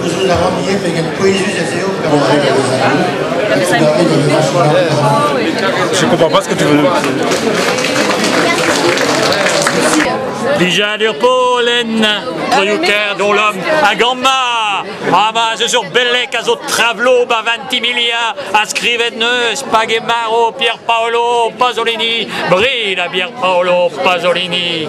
Gouzout a ran ivez pegen pouezus ez eo gant Je comprends pas ce que tu veux. Lijadur Polen, troioù dont l'homme à Gamba, Ramage sur Belek a zo travlo ba 20 milia a skrivet neus Pagemaro Pierpaolo Pasolini Brida Pierpaolo Pasolini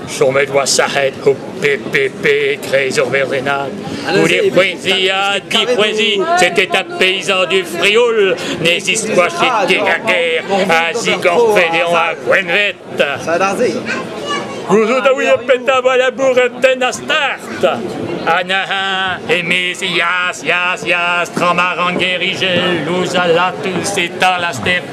Chomet oa sac'het ho PPP e-kreiz ur verdenad. Goude poueziñ ha dipoueziñ, c'était un paysan du Frioul ne ziskoachit ket a ger a zigorfedeañ a gwenvet. Gouzout a ouie petra vo labouret tenn a start. Anaha, emez ias, ias, ias, tramaran gerige, louz a latus eta la step.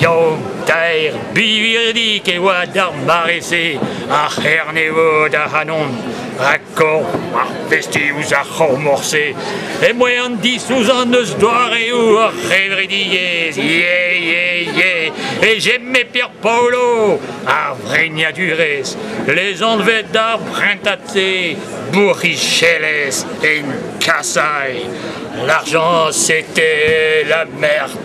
Yaou-taer birvidik e oa d'ar mare-se, ar c'hernevod ac'hanon, rakkorf ar festi ouzh ar c'hormor-se. Em-boa an disouzan eus doareoù ar c'hevredigezh, yeah, yeah, yeah, e j'aimais Pierre Paolo, ar vrignadurezh, lezanvet d'ar prentad-se bourrichelezh en Kasaï. L'argent, c'était la merde.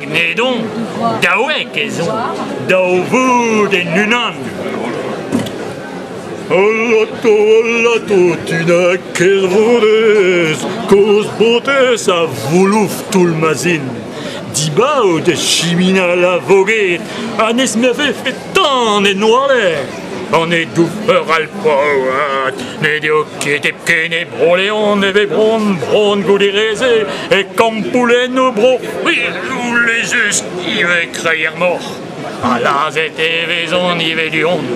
Gnedon, daouek ez on, daou voud en unan. Alato, alato, tu n'a ket rodez, koz botez a voulouf toull ma zin. Dibaout e chiminal a voged, ha n'ez me vefe tan en oalez. An dour alpao ha dinet eo ket hepken e Bro-Leon e vez bron, bron goude re-se e kampoulennoù Bro-C'hwil just ivez kreier moc'h. Ha lazhet e vezont ivez du-hont,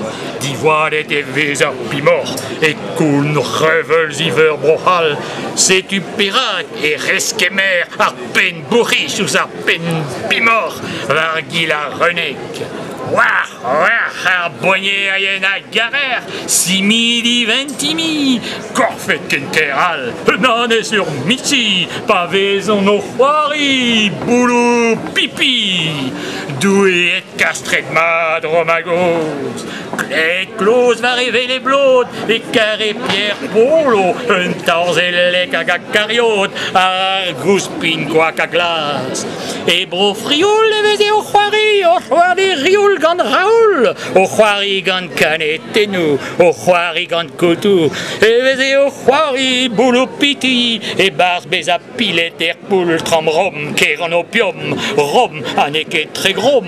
diwallet e vez ar pimoc'h e koun reveulz iveur Bro-C'hall. Setu perak e reskemer ar penn-bourc'his ouzh ar penn-pimoc'h war gil ar renek. War, war, ar boagnerien a garer, simidi ventimi, korfet kenter all, nanez ur miti, pa vezont o c'hoari, boulou pipi. Doueet kastret mat Romagoz, Klet kloz war e vele blod, e kare Pierre Polo, un tarzellek hag a kariot, ar gouspin koak a glas, E Bro-Frioul e veze o c'hoari, o c'hoari rioul gant Raoul, o c'hoari gant kanetennoù, o c'hoari gant kotoù, e veze o c'hoari boulopiti e-barzh bezañ pilet er poultr am rom, ker an opiom, rom ha n'eo ket tre grom,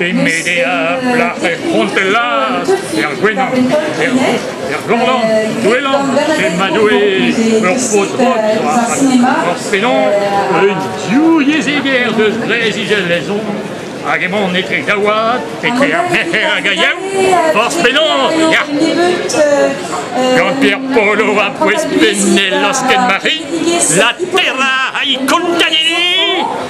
e Medea, plac'h er C'hontelaz, er Gwenan, er er Lorlan, Douelan, Emmanuel, ur paotr ur penaos, un diouieziger deus Breizh-Izel-Lezon, hag emaon etre Gaouad, etre ar Merc'her hag Aiev, forzh penaos, ya! Gant Pierre Polo a pouez pennel lasken Marie, la terra a i contanini!